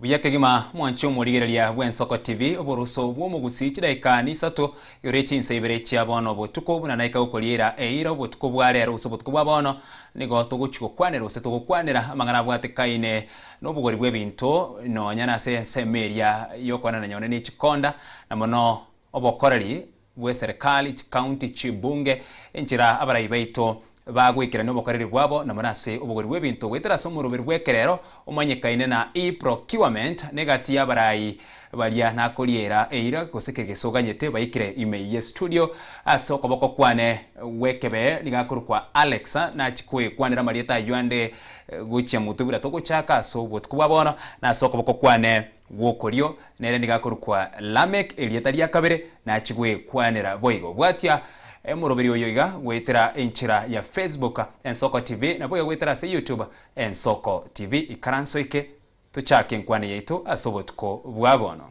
Buya kegima mwanche omorigereria bw'Ensoko TV, oboruso bw'omogusi chidaika nisato, yorie chinsa ibere chia bono botuko buna naika gokoriera eira obotuko bwa rero gose obotuko bwa bono, nigo togochi gokwanera gose togokwanera amang'ana abwatekaine nobogori bw'ebinto nonya nase ensemo eria y'okoanana nyone ne chikonda na mono obokoreri bw'eserekari, chikaunti, chibunge, enchera abarai baito bagoikerania obokoreri bwabo namo nase obogori bw'ebinto goetera ase omoroberi bw'ekerero omanyekaine na e-procurement, na egati y'abarai baria nakoriera eira gose keria gese oganyete baikire ime ye studio ase okoboko kwane gw'ekebe. Nigo akorokwa Alexa, nachia koekwanera amarieta ayio ande gochia motwe buna togochaka, ase obotuko bwa bono nase okoboko kwane. Gw'okorio nere nigo akorokwa Lamek, erieta ria kabere nachi gwekwanera boigo. Bwatia Omoroberi oyo iga goetera enchera ya Facebook Ensoko TV nabo iga goetera ase YouTube Ensoko TV. Ikara nsoike tochake enkwana yaito ase obotuko bwa bono.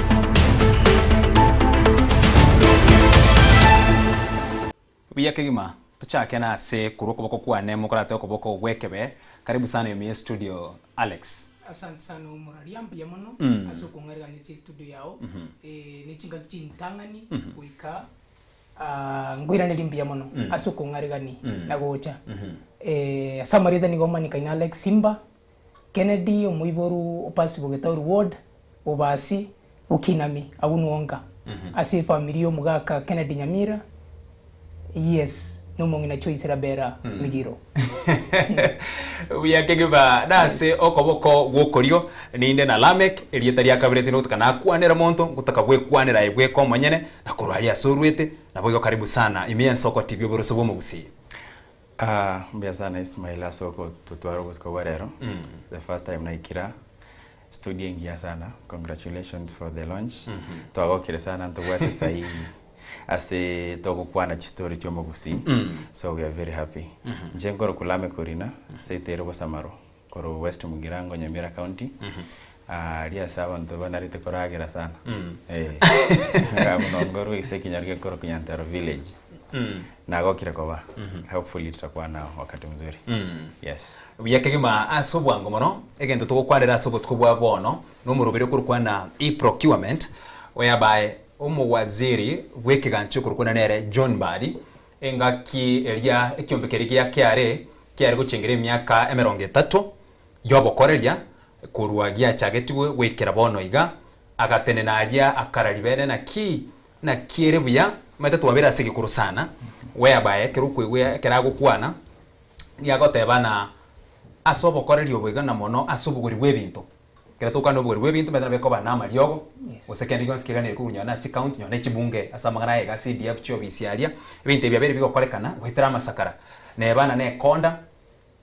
Buya kegima, tochake na ase korwa okoboko kwane mokorate okoboko gw'ekebe. Karibu sana ime estudio Alex. Asante sana omoraria mbuya mono ase okong'ariranisia estudio yao ne chingaki chintang'ani goika aa nkoiraneria mbuya mono ase okong'arigani na gocha ase amarieta nigo omanyekane Alex Simba. Kennedy omoiboru o Pasibo Getauri Ward, Bobasi, Bokinami, agwo nwoka ase efamiri ya omogaka Kennedy Nyamira, Yes, na omong'ina Choice Rabera Migiro. Buya kegima nase Yes. okoboko gw'okorio ninde na Lamek, erieta ria kabere tindogotoka nakwanere monto, ngotoka gwekwanera aye bweka omonyene, na korwa aria ase orwete, naboigo karibu sana, ime ense okotibi oboroso bw'omogusii. Aa mbuya sana Ismael ase ogototwara obosiko bwa rero the first time naikire aa studio engiya sana congratulations for the launch twagokire sana ntobwate sai ase togokwana chistory chiomogusii so we are very happy inche nkorokwa lameck orina ase etero bosamaro Korwa West Mugirango, Nyamira County. Aria ase abanto banarete koragera sana. Eeh. Muna ngorwa ase ekenyoro gekorokwa Nyantaro Village. Nagokire koba. Hopefully tutakwana wakati mzuri. Yes. Buya kegima ase obwango mono, egento togokwanera ase obotuko bwa bono nomoroberi okorokwa na E-Procurement, oyabae Omowaziri bw'ekegancho ekorokwa na nere John Mbadi, Engaki eria ekiombe keria gia keare kiare gochengera emiaka emerongo etato y'obokoreria korwa giachagetigwe goikera bono iga, agatenena aria akara ribeene na ki na ki ere buya, omanyete twabere ase egekoro sana, weabae ekero okoigwa ekero agokwana, nigo agoteba na ase obokoreri obo iga na mono ase obogori bw'ebinto. Ekero tokoana obogoria bw'ebinto, manyete nabo ekoba namariogo, gose kende gionsi keganeire korunywa na ase account, nyora nechibunge ase amang'ana aya iga ase EDF chi'ofisi aria. Ebinto ebi biabeire bigokorekana goetera amasakara, neba na nekonda,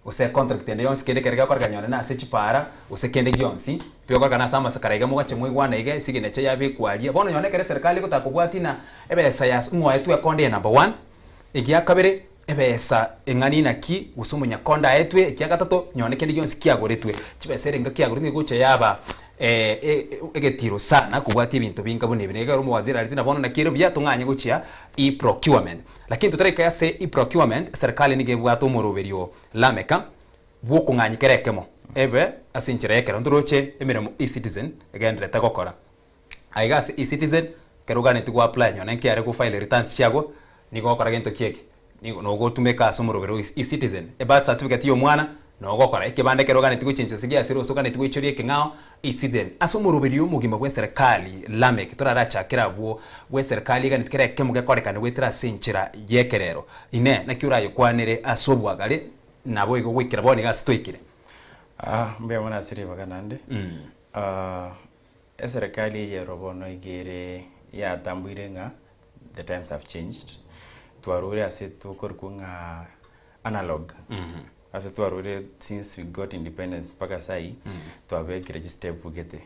gose econtract ende yonsi kende ekero gekorekana nyora na ase chipaara, gose kende gionsi bigokorekana ase amasakara iga mogache mwaigwana iga esignature yabekwa aria. Bono nyora nekero eserekari egotaka kobwati ng'a ebesa yas ng'oetwe ekonda eye number one, egi ya kabere, Ebesa eng'ani inaki, gose omonyaka onde aetwe ekia gatato, nonye kende gionsi kiagoretwe. Chibesa ere enga kiagoretwe egocha yaba egetiro sana kobwatia ebinto binga buna ebi. Nigekegera omowaziri arete na bono naki ere buya tong'anye gochia e-procurement. Lakini totareka ase e-procurement, serikali nigo ebwate omoroberio Lameka bw'okong'anyia kera ekemo ebe ase enchera y'ekero ntoroche emeremo e-Citizen egendererete gokora. Aiga ase eCitizen, ekero oganetie go apply nonye nkiare go file returns chiago, nigo ogokora gento ki eke, nigo nogotumeka ase omorobero o eCitizen, ebirth certificate ya omwana, nogokora ekebande ekero oganetie gochenchia gose giasire gose oganetie goichoria ekeng'ao, eCitizen. Ase omoroberio omogima bw'eserekari, Lameck, torarachakere abwo, bw'eserekari eganetie kera ekemo gekorekane goetera ase enchera y'ekerero. Inee! Naki orayekwanere ase obwagare? Nabo igo goikera bono iga ase twaikire. Mbuya mono ase ribaga naende. Eserekari eye ero bono iga ere yatambuire ng'a the times have changed. Twaruire ase tokorikwa ng'a analog. Ase twaruire since we got independence mpaka sai twabekire chistepu gete.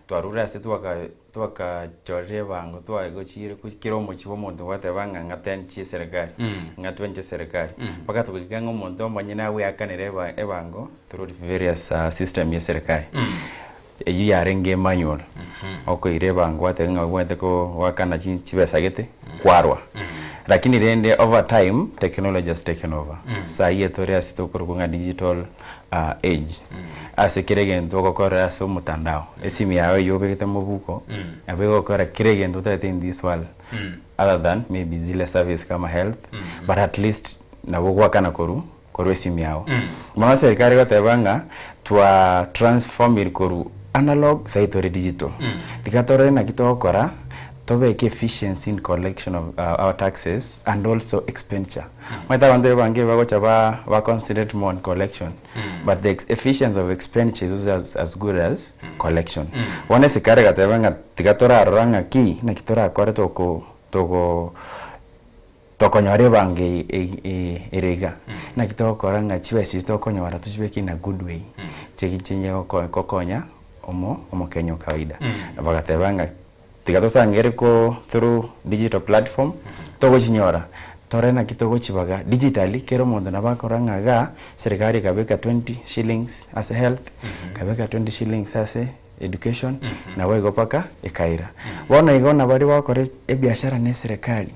Twaruire ase twaka twakachorire ebango twagochiire ku kera omochie bwa omonto gwateba ng'a ng'ateni chieserekari ng'atweni cheserekari mpaka togoika ng'a omonto omonyene agweakanere eba ebango through various system ya eserekari. Eyio yarenge Emmanuel, okoira ebango ateba ng'a obwate ko goakana chi chibesa gete kwarwa. Lakini rende over time technology has taken over. Saa iye tore ase tokorokwa ng'a digital age. Ase kera egento ogokorera ase omotandao. Esimu yao eyio obegete mobuko, nabo egokora kera egento otagete in this world other than maybe zile service kama health but at least nabo goakana korwa korwa esimu yao. Mono serikali egoteba ng'a twa transformed korwa analog saii tore digital. Tiga torore naki togokora tobeke efficiency in collection of our taxes and also expenditure. Omanyete abanto abange bagocha ba ba concentrate more on collection but the efficiency of expenditure is also as as good as collection. Bono esekari egateba ng'a tiga torarora ng'aki naki torakore toko toko. Tokonyora ebango ere iga. Naki togokora ng'a chibesa echi tokonyora tochibeke in a good way, chinche gokonya omokenya o kawaida. Bagateba ng'a tiga tosangere through digital platform, togochinyora tore naki togochibaga digitally, kera omonto nabo akorora ng'a igaa serikari ekabeka twenty shillings ase health, ekabeka twenty shillings ase education, naboigo mpaka ekaira. Bono igo nabaria bagokora ebiashara na eserekari.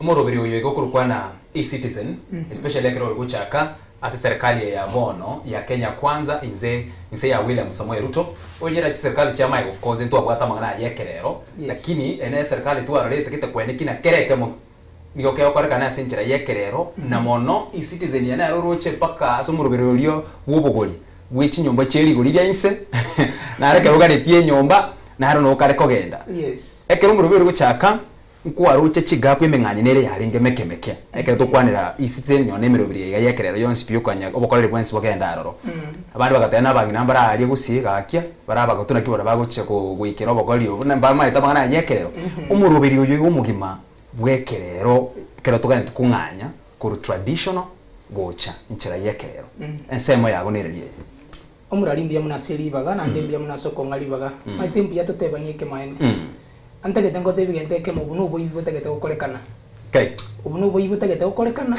Omoroberi oyo iga okorokwana eCitizen especially ekero ore gochaka ase serikali eye ya bono ya Kenya Kwanza inse inse ya William Samoei Ruto oinyerera chiserikali chia maega of course ntwabwate amang'ana aye ekerero lakini eye nere serikali twarorete gete kweneki na kera ekemo nigo kegokorekana ase enchera y'ekerero na mono eCitizen eye nero oroche mpaka ase omoroberi oria bw'obogori bwe chinyomba chie rigori ria inse naro ekero ogaretie enyomba naro nokare kogenda ekero omoroberi ore gochaka Nkwaroche chigaku emeng'anye nere yarenge emeke meke, ekero tokwanera E-Citizen nyona emero ebere yaiga y'ekerero yonsi pi okonyia obokoreri bwensi bogenda aroro. Abande bagatebana abang'ina mbare aria gose gaakia, bare abagotu naki baria bagochia goikera obokoreri obo, na mbamaete amang'ana aya y'ekerero. Omoroberi oyo igo omogima bw'ekerero ekero toganetie kong'anya korwa traditional gocha enchera y'ekerero. Ensemo yabo nere eri eye. Omorari mbuya mono ase ribaga, naende mbuya mono ase okong'a ribaga, mani timbuya totebanie ekemanyererio. Antagete ngoteebie egento ekemo, obo noboibi botagete gokorekana. Kai. Obo noboibi botagete gokorekana,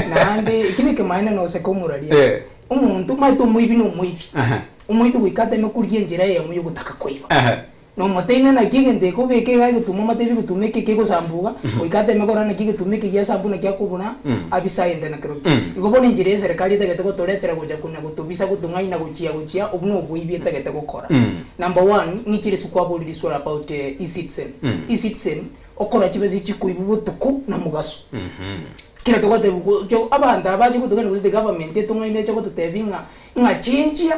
naende eki nekemanyererio na goseka omorari. Eh. Omonto omanyete omoibi na omoibi. Aha. Omoibi goika ateme korigia enchera eyemo ya ogotaka koiba. Aha. Nomoteine, naki egento ekobeka iga egetumo amate ebigetumo eke kegosambuga, goika ateme korora naki egetumo eke giasambu naki akobura abise aende nakero ki. Igo bono enchera y'eserekari etagete gotoretera gocha konya gotobisa gotong'aina gochia gochia obwo noboibi etagete gokora. Number one, ng'i chire sikwaborire iswe about E-citizen. E-citizen okora chibesa echi chikoibu botuko na mogaso. Kera togotebiwa abanto aba abache gotong'aina gose the government etong'aine eche gototebia ng'a ng'a chinchia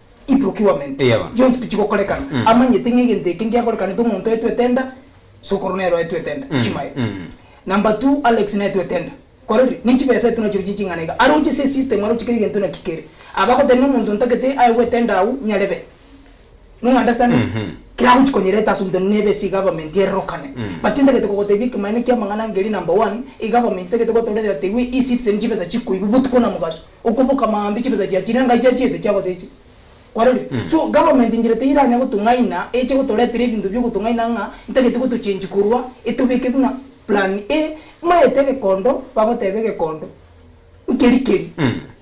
I procurement Eya bono. chionsi pichi gokorekana, Mm. amanyete ng'a egento eke ngiakorekanete omonto oetwete enda, sokoro nere oetwete enda, Mm, Ishmael. mm. Number two, Alex naetwete enda. Kore riria, ne chibesa etu nachireo chie ching'ana iga. Aroche ase esystem, aroche kera egento naki kere. Aba agoteba na omonto ntagete aye goeta enda agwo, nyarebe. No understand it? Mhm. Kera agochi konyereta ase omonto na nebe ase egavernment erorokane. Mm. But ntagete kogotebia ekemanera kiamang'ana ngeria number one, egavernment ntagete gotoretera tegwe E-citizen chibesa chikoibu botuko na mogaso. Okoboka maambia chibesa chia chinenga chia chiete chia gotecha. Kwarorire? So, government inchera teiranya gotong'aina eche gotoretera ebinto bi'ogotong'aina ng'a ntagete gotochange korwa etobeke buna plan A, maete egekondo bagoteba egekondo nkeri keri.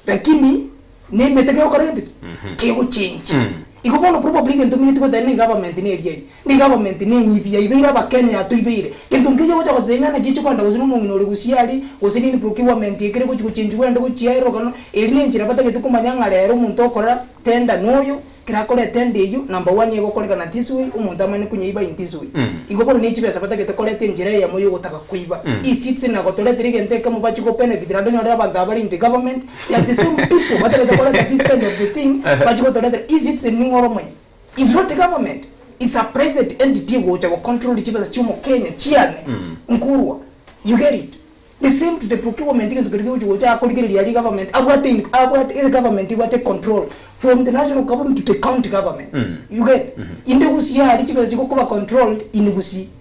Lakini nemete kegokora gento ki? Kegochange. Igo bono probably egento ng'ina tigotebi ng'a egovernment neriari, na egovernment nenyibi yaibeire abakenya yatoibeire, gento nkeiyo ogocha gotebi ng'a naki echi kogenda gose na omong'ina ore gusii aria, gose nini procuerment ekere gochi gochenjigwa ende gochiaerwa ekero eri nenchera batagete komanya ng'a rero omonto okorera tender noyo, ekero akorire tender eywo number one egokorekana this way omonto amane konyeiba in this way. Igo bono ne chibesa batagete koreta enchera eyemo yogotaka koiba. E-citizen nagotoretire egento ekemo bache go benefit naende onyorere abanto abare in the government, Yet the same people batagete kora that this kind of the thing bache gotoretera ecitizen ning'o ore omoyia? It's not government it's a private entity egocha go control chibesa chia omokenya chiane nkorwa you get it the same to the procurement egento keria kegochi gocha akorigereria aria government abwate in abwate ere government ebwate control from the national government to the county government you get inde gusii aria chibesa chigokoba controlled in gusii.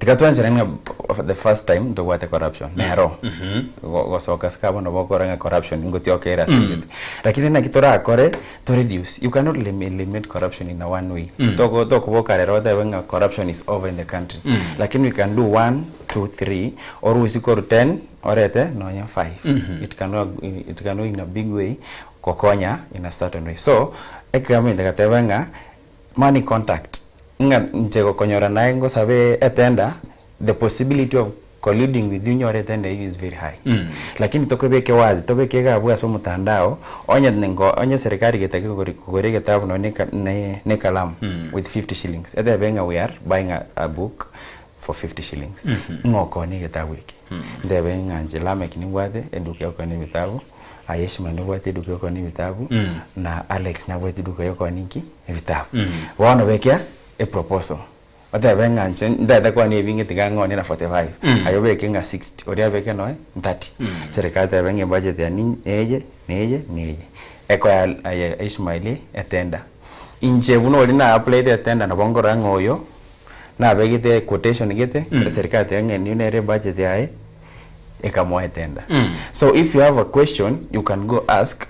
Tiga twanchore ng'a for the first time ntobwate corruption nero go- gosoka sika bono bokora ng'a corruption ingotioka ere ase egete lakini naki torakore to reduce you cannot elim- eliminate corruption in a one way Toko- tokoboka rero otebe ng'a corruption is over in the country lakini we can do one two three orusie korwa ten orete nonye five it can work in- it can work in a big way gokonya in a certain way so ekegamete gatebe ng'a. Money contact, ng'a inche gokonyora naye ngosabe etender, the possibility of colluding with you nyore etender eyio is very high. Lakini tokebeke wazi, tobeke iga abwo ase omotandao, onye nko, onye serikali getake kogori, kogora egetabu nonya ne eka, ne, ne ekalamu with fifty shillings, etebe ng'a we are buying a, a book for fifty shillings, ng'a okoone egetabu eke. Ntebe ng'a inche Lameck nimbwate eduka yokoona ebitabu. Aye Ishmael nobwate eduka yokooni ebitabu Mm. na Alex nabwate eduka yokooni inki ebitabu Mm. bono bekea eproposal otebe ng'a nse ntete kooni ebinge tiga ng'oone na 45 Mm. aye obeke ng'a 60 oria abeke noe 30 Mm. serikali tebe ng'a ebudget yane neye neye neye ekoya aye Ishmael etender inche buna oria na aplayete etender nabo nkorora ng'a oyo nabegete quotation gete Mm. eserikali tebe ng'a eye nigo nere ebudget yaye. ekamoetenda so if you have a question you can go ask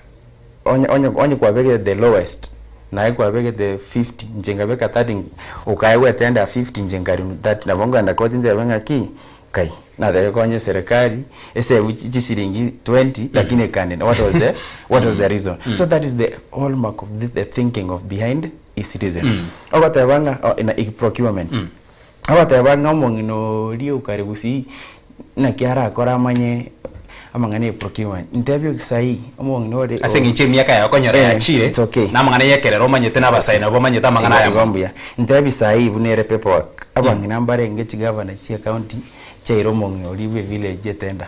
onye onye onye kwabegete the lowest naye kwabegete 50 inche ngabeka 30 okaye gwetendera 50 inche nkari 30 nabo nkogenda koti ntebe ng'aki kai natebe konye serikali esave chi chisiringi 20 lakini ekanina what was the what was the reason so that is the hallmark of the thinking of behind E-citizen ogoteba ng'a o ina i procurement Abateba ng'a omong'ina oria o kare gusii naki arakore amanye amang'ana e procurement. Ntebie oke sai omong'ina ore Ase engencho y'emiaka yaye okonyora Eh, yachire, it's okay. na amang'ana y'ekerero omanyete, na abasae nabo bamanyete amang'ana aya Igo mono. mbuya. Ntebi sai buna ere paperwork. Abang'ina mbarenge chigavana chia county chiaire omong'ina oria bwe village etender.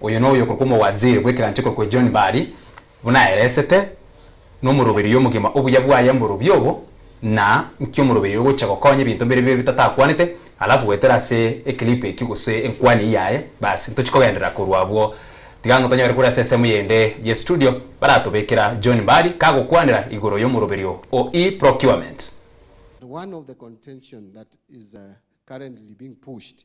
Oyo noyo okorokwa omowaziri bw'ekeganchiko kwe John Mbadi buna aeresete, nomoroberio omogima obuya bwaye mborobio obo, na nki'omoroberio ogochia gokonya ebinto bire bibe bitatakwanete, alafu goetera ase eclip ekio gose enkwani eye yaye, basi ntochi kogenderera korwa abwo. Tiga ngotonyore kore ase ensemo yende ye studio baratobekera John Mbadi kagokwanera igoro y'omoroberio o e-procurement. One of the contention that is currently being pushed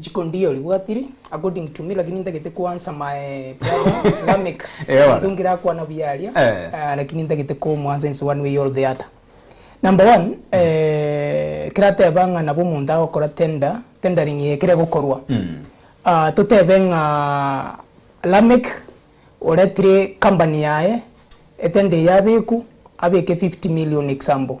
Chikondi iyo ribwatiri according to me lakini ntagete ku answer my brother Lamek. Ewa. Into ngirakwana buya aria. Eh. Ah, lakini ntagete ko mu answer in one way or the other. Number one, eh, kirateba ng'a nabo omonto agokora tender, tendering eye ekere gokorwa. Ah, totebe ng'a Lamek oretire company yaye etender eye abekwu, abeke 50 million example.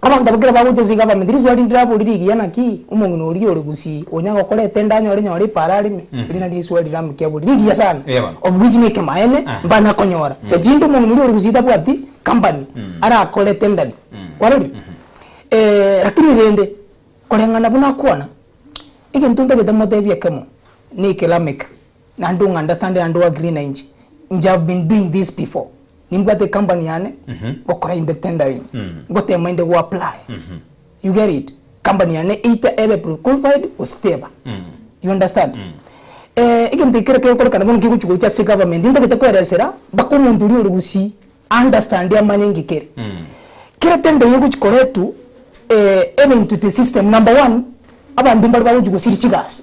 Abanto abwo kera bagocha ase iga abamete, risoa rinde raborie rigiya naki omong'ina oria ore gusii onya gokora etendo anyore nyore ipara areme, erio nario risoa riria ramokia aborie rigiya sana, Yebo. of which na ekemaene Aha. mbana konyora, sechinde omong'ina oria ore gusii tabwati company arakore etendani, kwarorire? lakini rende, koreng'ana buna akwana, egento ntagete motebie ekemo, na ekelameke. Na don't understand and don't agree na inche. Inche have been doing this before. Nimbwate ecompany yane, ngokora inde tendering, ngotema inde goapply. You get it? Company yane either ebe prequalified gose teba. You understand? Eh, egento ekero kegokorekana bono kegochi gocha ase egovernment, ntagete koeresera mpaka omonto oria ore gusii aunderstande amanye enki kere. Kera tender eye egochi koretwa, eh, ebe into the system, number one, abanto mbare bagochi gosiria chigasi.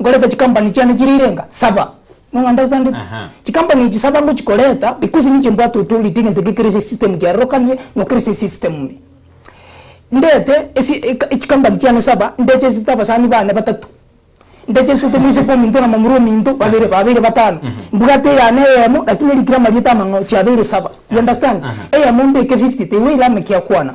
nkoreta chikampani chiane chire irenga saba no understandeti chikampani echi saba ngochikoreta because ninche mbwate authority egento gekere ase esystem kiarorokanire na okere ase esystem ime ndete chikampani chiane saba ndechesete abasani bane batato ndechesete maiso kwa ominto na momura ominto babere babere batano mbwate eyane eyemo lakini erikire amarieta amang'ao chiabeire saba you understand eyemo mbeke fifty teiwe eira ame kiakwana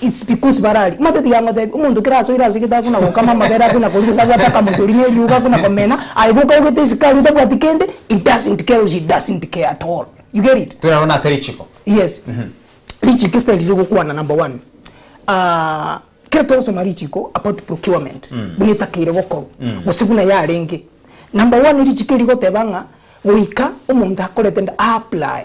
It's because baraaria mate tiga ngotebi omonto kera asoire ase egete akona gokama amabere akona koria gose abwate akamosori ne eriogo akona komena aye boka augete isiko aria otabwati kende he doesn't care or she doesn't care at all you get it Twerore nase richiko. yes richiko esitaeri riria ogokwana number one ah kera togosoma richiko about procurement buna etakeire gokorwa gose buna yarenge number one richiko rigoteba ng'a goika omonto akorete nda a apply.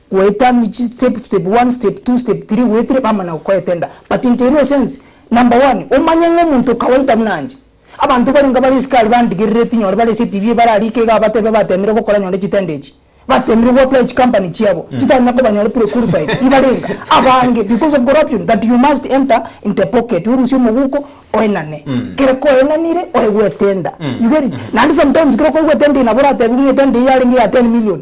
goetania chi step step one step two step three goetire bamanya gokoetenda but into erio sense number one omanye ng'a omonto okawaida buna inche abanto bare inga bare isiko aria bandigerere tinyore bare ase etibi bare aria iko iga abatebe batemire gokora nyore chitendo echi batemire goapply chikampani chiabo chitari na kobanyora prequalified ibare inga abange because of corruption that you must enter into a pocket orusie omoguko oenane kere koenanire oye goetenda you get it naende sometimes kere okoigwa etenda eye nabo oratebiwe ng'a etenda eye yarenge ya ten million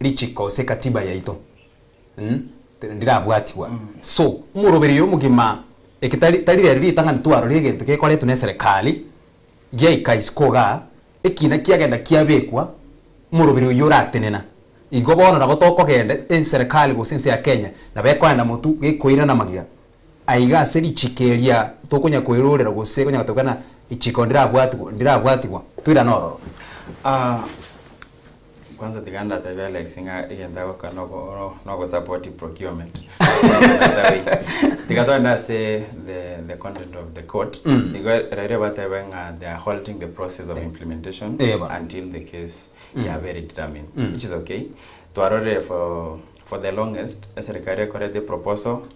Richiko gose ekatiba yaito ndirabwatigwa. So, omorobererio omogima eke tari tari rero ritang'ani twarorire egento gekoretwe na eserekari, giaika isiko igaa, ekiina kiagenda kiabekwa, omoroberio oyio oratenena. Igo bono nabo tokogenda, enserekari gose ense ya Kenya nabo ekoenda motu gekoirana magiga. Aiga ase richiko eria tokonya koerorera gose konya gotoka ng'a richiko ndirabwatigwa ndirabwatigwa toirane ororo. Ah kwanza tiga ndatebe Alex ng'a egento agoka noko noko support procurement tiga togende ase the the content of the court Mm. nigo riria batebe ng'a they are halting the process of implementation Eh, ba. until the case Mm. yabere determined Mm. which is okay twarorire for for the longest eserekari ekorete proposal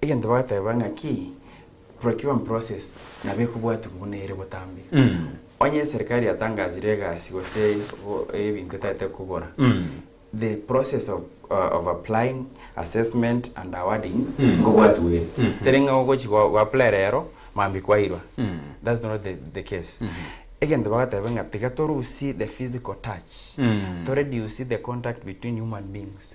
Egento bagateba ng'a ki procurement process nabo ekobwatigwa buna ere botambe. Onye eserikari yatangasire egasi gose ebinto etagete kogora, the process of of applying, assessment and awarding nkobwatigwa iga. Teri ng'a ogochi go apply rero mambia kwairwa. That's not the the case. Egento bagateba ng'a tiga torusie the physical touch, to reduce the contact between human beings.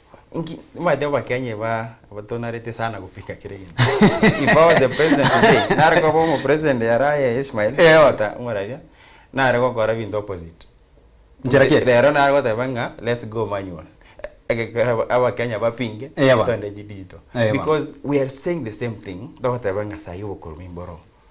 Inki nimaete abakenya iba abatonarete sana gopika kere gento if I was the president today nare koba omo president yare aye Ishmael Eh, oh. Ota omorabia nare gokora binto opposite Nchera ki? rero nare goteba ng'a let's go manual egekera aba- abakenya bapinge Eyaba. togende chidigital Eyaba. because we are saying the same thing togoteba ng'a saii obokorwa nimboro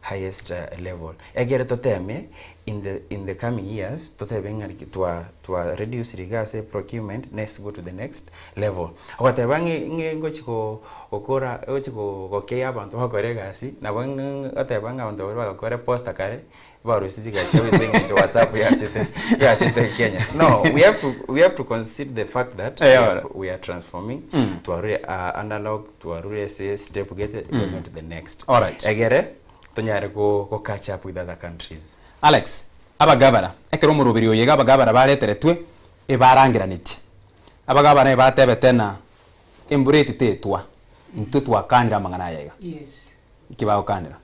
highest level egere toteme in the in the coming years totebe ng'a twa twa reduce riga ase procurement next go to the next level ogateba ng'e ng'e ngochi go gokora ngochi go gokeya abanto bakore egasi nabo ng'e ng'e goteba ng'a abanto baria bagokora poster kare barusie chigasi chiabo ase eng'encho whatsapp yachete yachete kenya no we have to we have to consider the fact that we are we are transforming twarure a analog Twarure ase step gete we went to the next Alright. egere tonyare go go catch up with other countries. Alex, Abagabara, ekero omoroberi oyo iga abagabara bareteretwe, ebarangeranetie. Abagabara ebatebete ng'a embura eti tetwa, intwe twakaanire amang'ana aya iga. Yes. Inki bagokaanera?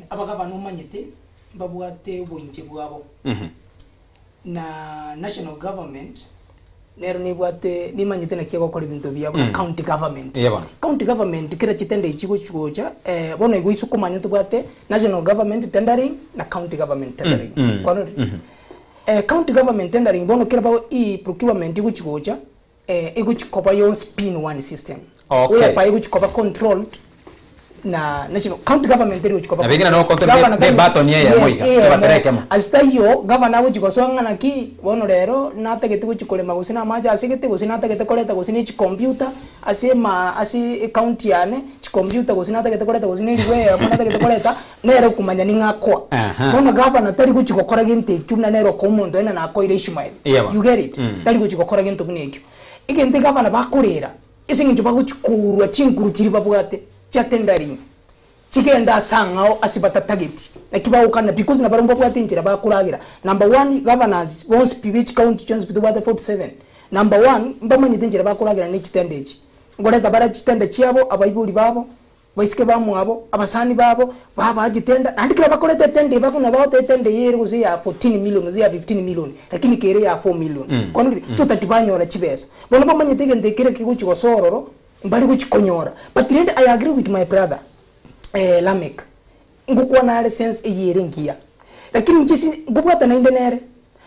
abagavana omanyete mbabwate oboinche bwabo, na national government nero nebwate nemanyete naki egokora ebinto biabo, na county government. Eeh, bono. County government kera chitender echi chigochia gocha, bono igo ase okomanya tobwate national government tendering na county government tendering. Kwarorire? County government tendering bono kera bago ii procurement egochia gocha. Eh, egochi koba yonsi pin one system. Okay. Whereby egochi koba controlled na national county government eri gochi koba Nabe ekero nabo controlled. control Governor ne- ne tari- button eyemo Yes, iga, eyemo. ebatera ekemo. Ase taiyo governor agochi gosoa ng'a naki bono rero natagete gochi korema gose na amache asegete gose natagete koreta gose ne chicomputer ase maa ase ecounty yane chicomputer gose natagete koreta gose ne eribu eyemo natagete koreta Nere okomanya ning'o akoa? Aha. Bono gavana tari gochia gokora gento ekio buna nere okoa omonto onde nana akoire Ishmael. Iyebo. You get it? Mm. Tari gochia gokora gento buna ekio. Egento egavana bakorera, ase eng'encho bagochia korwa chinkuru chiria babwate chia tendering, chigende ase ang'ao ase batatageti. Naki bagokana because na barabwo mbabwate enchera bakoragera. Number one, governors bonsi pi be chicounty chionsi pi tobwate 47. Number one, mbamanyete enchera bakoragera ne chitende echi. Nkoreta bare chitende chiabo, abaibori babo, Baiseke bamwabo, abasani babo, babaa chitenda, naende kera bakorete etenda eba buna bagote etenda eye ere gose ya fourteen million gose ya fifteen million, lakini kere ya four million. Kore riria, so that banyore chibesa. Bono bamanyete egento ekere ekegochi gosa ororo, mbare gochi konyora. But rende I agree with my brother Lameck. Ngokwana are sense eye ere engiya, lakini inche si nkobwata naende nere,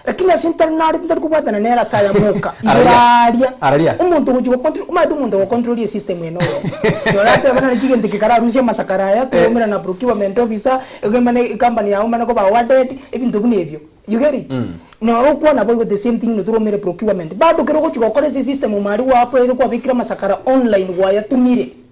lakini ase ntare nare tintari kobwatana nere ase aya moka, igoro Araria, aaria, araria. omonto ogochi gocontro, omanyete omonto ogocontrorie esystem ene oyomo, nora ateba nare ki egento eke kare arusie amasakara aya, Eh. togoumera na procurement officer, ege mane ecompany yago mane koba awarded, ebinto buna ebio, you get it? Noro okwana boigo the same thing notogoumere procurement, bado kere ogochi gokora ase esystem omo aria gwakorire kwabekire amasakara online gwayatumire.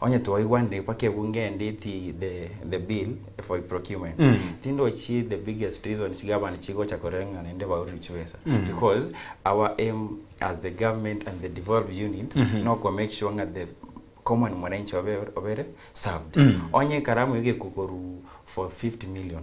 Onye twaigwa ndipa kebunge nditi the the bill for procurement tindochi the biggest reason chigovernment chigocha koreng'ana inde baurire chibesa because our aim as the government and the devolved units noko make sure ng'a the common mwananchi obe obere served onye ekaramu egekwa korwa for 50 million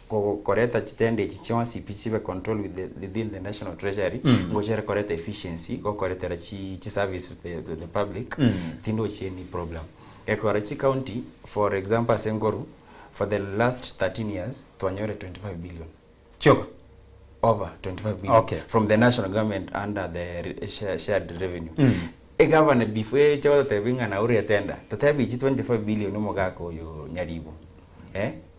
Gokoreta chitende echi chionsi pi chibe controlled within the national treasury, ngochere koreta efficiency gokoretera chi chi service to the public, tindochi any problem. Gekora chi county for example ase nkoru for the last 13 years twanyore 25 billion chioka over 25 billion okay. from the national government under the shared revenue egavana before eche gototebia ng'a naurire tender totebie echi 25 billion omogaka oyo nyaribo eh?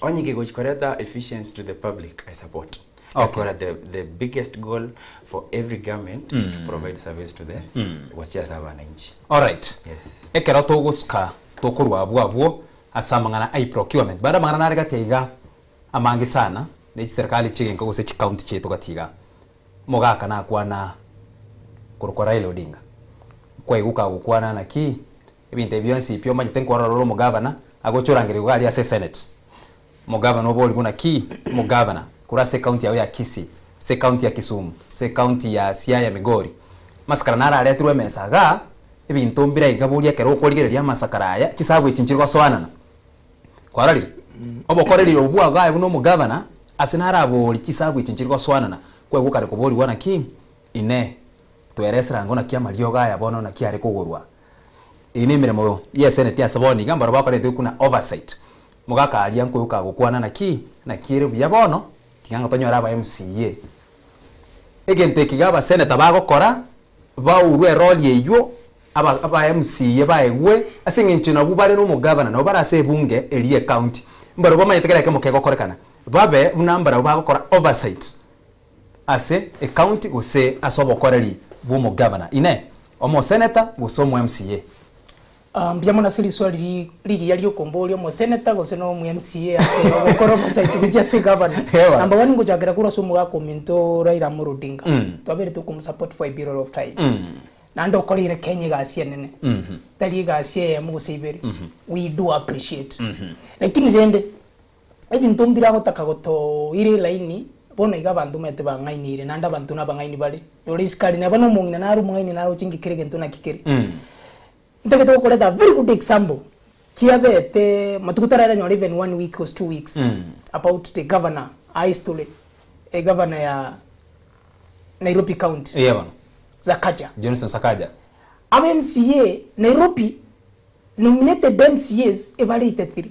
Onye ki gochi koreta efficiency to the public I support gekora the the biggest goal for every government is to provide service to the gochia ase abananchi. Alright. Yes. Ekero togosuka tokorwa abwo abwo ase amang'ana ai procurement baada amang'ana nare gati aiga amange sana ne chiserikali chigenka gose chi county chiaito gati iga mogaka nakwana korokwa Raila Odinga kwaigwa okagokwana naki Ebinto ebi bionsi pi omanyete nkorora ore omogavana, agocha orangeria iga aria ase eseneti. Omogavana obo ori buna ki? Omogavana korwa ase ekaunti yao ya Kisii, ase ekaunti ya Kisumu, ase ekaunti ya Siaya, Migori. Amasakara naro areterwe emesa iga, ebinto mbire iga boria ekero okorigereria amasakara aya, chisabu echi nchire gosoanana. Kwarorire? Obokoreri obo bwao iga aye buna omogavana, ase naro aborie chisabu echi nchire gosoanana, kwegwa okare koborigwa ng'a ki? Inee! Toera eserango naki amariogo aya bono naki are kogorwa? Eye nemeremo y'eseneti ase bono iga mbarabwo bakoretwe buna oversight. Mogakaaria nkoyoka agokwana naki naki ere buya bono tiga nga tonyore aba MCA. Egento eki iga abaseneta bagokora baurwe erori eywo aba aba MCA baegwe ase eng'encho nabwo bare nomogavana nabo bare ase ebunge eria ecounty mbarabwo bamanyete kera ekemo kegokorekana babe buna mbarabwo bagokora oversight. ase ecounty gose ase obokoreri bw'omogavana, Inee, omoseneta gose omoMCA? Aa, mbuya mono ase riswali ri, rigiya riokomboria omoseneta gose na omoMCA ase ogokora obosaiti gochia ase egavana. Ewa. Number one ngochakera korwa ase omogaka ominto Raila Amolo Odinga. Twaberete okomosupport for a period of time. Naende okoreire Kenya egasi enene. Tari egasi eyemo gose ibere. We do appreciate. Lakini rende, Ebinto mbiragotaka gotoira elaini, bono iga abanto omanyete bang'aineire, naende abanto nabang'aini bare. Nyora isikari neba nomong'ina nare omong'aini naroche ng'ikere egento naki kere. Ntagete gokoreta a very good example, kiabete matuko tararanyora even one week gose two weeks, about the governor aa history, egavana ya Nairobi county, Eya bono, Sakaja. Johnson Sakaja. Aba mca Nairobi, nominated mcas, ebare etatiri.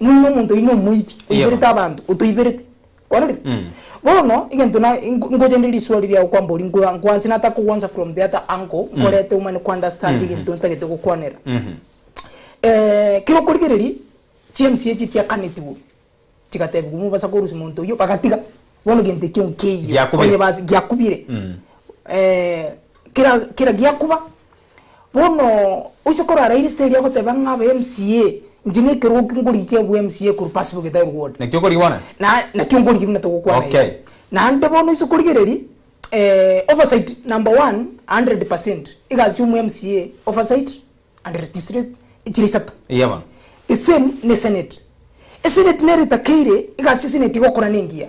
Nonya omonto oino omoibi, Yebo. oiberete abanto, otoiberete. Kwarorire? Bono, egento na, nko- nkochendereria risuali ria okwamba oria, nkoa- nkwanse natakokwansa from the other angle, nkorete omanye kounderstand egento ntagete gokwanera. Eh, kero okorigereria, chiemisi echi chiakanetigwe, chigatebigwa mobasa korusia monto oyio, bagatiga. Bono egento ekio nkeiyo, Giakubire. onye bas- giakubire. Eh, kera kera giakuba, Bono oise korara irisita eria goteba ng'a abe MCA, inche na ekeroki ngorigia abwe MCA korwa Pacific Gitaru Ward. Naki okorigia bwana? Na naki ngorigia buna togokwana iga. Okay. Naende bono oise korigereria eh, oversight number one 100% egasi y'omo MCA, oversight and legislate chire isato. Eya bono. The same ne senate. Esenate nero etakeire egasi ya senate igokora nengiya.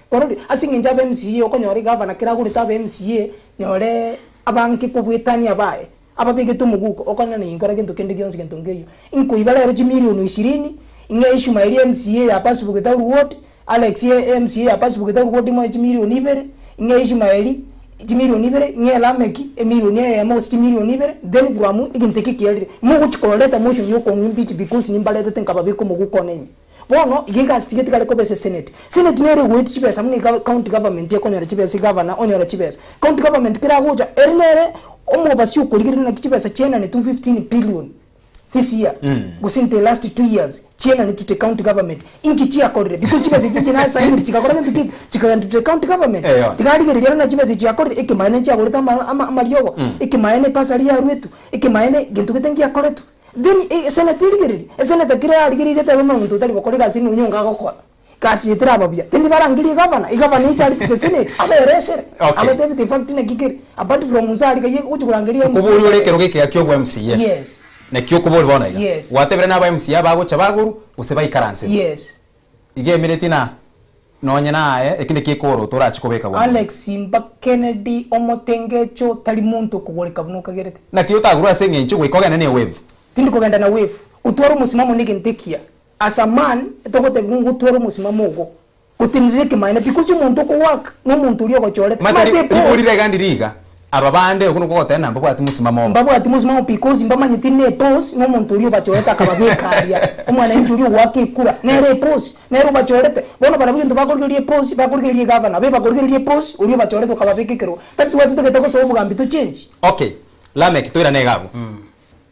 Korende ase engencho aba MCA okonyora egavana kera agorete aba MCA nyore abanke kobuetania baye ababegete omoguko okonyora na inkora gento kende gionsi gento nkeyio inkoiba rero chimilioni ishirini ing'e Ishumaeli MCA ya Pasibu Gitaru ward Alex MCA ya Pasibu Gitaru ward imoe chimilioni ibere ing'e Ishumaeli chimilioni ibere ing'e Lameki emilioni eyemo gose chimilioni ibere then from egento ekio kiarire mogochi kororeta motion ya okong'impeach because nimbaretete nkababeka omoguko one ime. Bono iga egasiti getigare koba ase senate. Senate nere egoeti chibesa buna iga county government ekonyora chibesa, egavana onyora chibesa. County government kera agocha ere nere omobasi okorigereria naki chibesa chienanetwe 15 billion this year gose in the last two years chienanetwe to the county government. Inki chiakorire? Because chibesa echi inche nasainire chigakora gento kebe chikagenda to the county government. Eyo. Tigarigereria ere buna chibesa echi chiakorire, ekemaene nchiagorete ama- ama- amariogo, ekemaene ebasari yaruetwe, ekemaene gento gete ngiakoretwe. Then esenate erigererie, esenate ekero yarigereiri etebe buna omonto otari gokora egasi ende onye iga agokora, egasi eye teraba buya, tindi barangerie egavana, egavana eche arikwe geseneti, abere esere, Okay. abatebete in fact naki kere, apart from nse aria gaiya gochi korangeria MCA Okobori ore ekerogo ekega kia obwa MCA. Yes. Naki okobori bono iga. Yes. Gwatebire naba MCA bagocha bagoru gose baikaransirwe. Yes. Iga emereti na nonye naye eki naki ekorwa torachi kobeka bwango bwaye. Alex mba Kennedy omotengecho tari monto okogoreka buna okagerete. Naki otagurwa ase engencho goika ogende ne wave. Tindi kogenda na wave. Otware omosimamo negento ekiya. As a man togotebigwa ng'a otware omosimamo ogo gotenerera ekemaene because omonto okowork nomonto oria ogochorete. Mate ribori regandire iga. Aba bande, okwo nokwo goteba namba bwati mosimamo. Mbabwati mosimamo because mbamanyeti neposi nomonto oria obachorete akababeka aria. Omwanainchi oria ogoaka ekura nere eposi nere obachorete. Bono barabwo egento bakorigereria eposi bakorigereria egavana abe bakorigereria eposi oria obachorete okababeka ekerogo. That is why totagete gosoa obogambi to change. Okay, Lameck toirane iga abwo.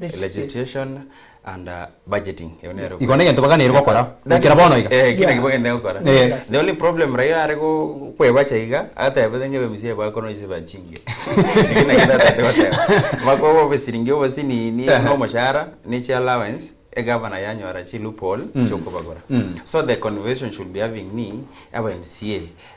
Legislation and budgeting. Igo negento baganeirie gokora goikera bono iga. Eh, kila kibo gende gokora. Eh. The only problem Raila are go kwebacha iga, atebete ngebe misia eba kono ise bachinge. Kina kina tete goteba. Mako bo bisiringi obo sinini no moshara ne chi allowance e governor yanyora chi loophole chokobagora. So the conversation should be having ni aba mca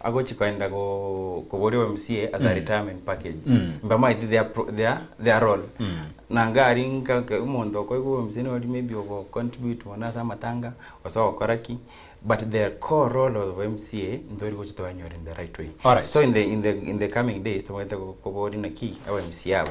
agochia koenda koboria omca as a retirement package mbamaete their their their role na iga aria nka nka omonto okoigwa omca nigo maybe oria ogo contribute mono ase amatanga gose ogokora ki but the core role of omca ntori gochia twanyora in the right way Alright. so in the in the in the coming days tobwenerete koboria naki abamca aba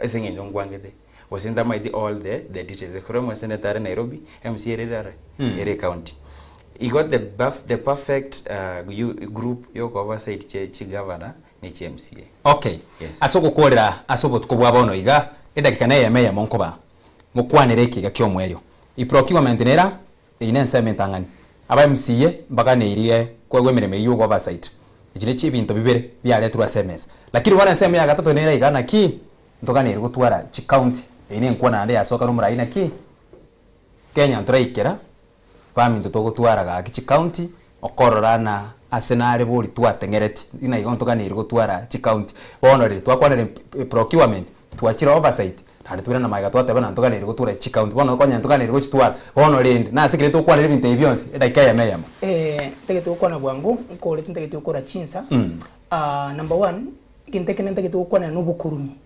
Ase engencho nkwangete, gose ntamaeti all the the details, ekero omweseneto are Nairobi, mca ere ere are, Mm. ere ecounty. Igo the buff, the perfect uh, you group yo go oversight che chi governor ne chi mca. Okay. Yes. Ase ogokoorera ase obotuko bwa bono iga, edagika neyemo eyemo nkoba, mokwanere ekeiga ki'omoerio. Iprocurement nera Eyio nensemo entang'ani. Aba MCA mbaganeirie kwegwa emeremo eyio y'obo oversight. Echi ne chibinto bibere biaretirwe ase emesa. Lakini bono ensemo ya gatato nere iga naki ntoganeiri gotwara chi county. Eyio nenkwo naende yasoka nomorai naki Kenya ntoraikera baminto togotwara gaki chi county Okororana ase nare bori twateng'ereti ng'ina igo ntoganeiri gotwara chicounty bono riri twakwanera eprocurement twachire oversight naende toirana magega twateba na ntoganeiri gotwara chicounty bono okonya ntoganeiri gochitwara bono rende nase ekero tokwanera ebinto ebi bionsi edagika eyemo eyemo. Ntagete gokwana bwango nkorete ntagete gokora chinsa number one egento ekende ntagete gokwanera nobokurumi.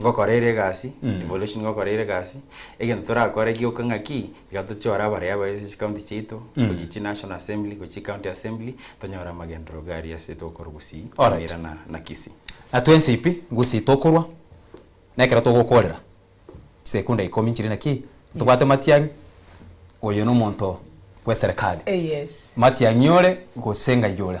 Ngokora ere egasi, evolution ngokora ere egasi, egento torakore gioka ng'aki, iga tochore abareia baise ase chikaunti chiaito, gochia chinational assembly, gochia chikaunti assembly, tonyore amagenderero garia ase tokorwa Gusii, Alright. Nyamira na na Kisii. Na twensi pi Gusii tokorwa, na ekero togokorera sekunda ikomi nchire na ki, ntobwate Yes. Matiang'i, oyo nomonto bw'eserekari. Eh, yes. Matiang'i ore, gose ng'ai ore.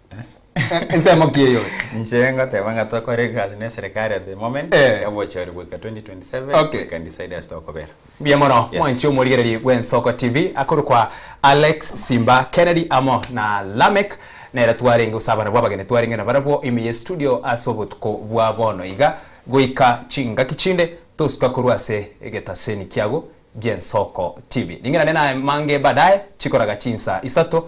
Ensemo ki eyore? Inche ngoteba ng'a tokore egasi na eserekari at the moment, Eh. obochori goika 2027 Okay. we can decide as tokobera. Mbuya mono Yes. mwanchi omorigereria bw'Ensoko TV akorokwa Alex Simba Kennedy amo na Lameck nere twarenge gose abana bw'abageni twarenge nabarabwo ime ye studio ase obotuko bwa bono iga goika chingaki chinde tosuka korwa ase egetaseni kiago gi'Ensoko TV. Ring'ana nere naye mange baadaye chikoraga chinsa isato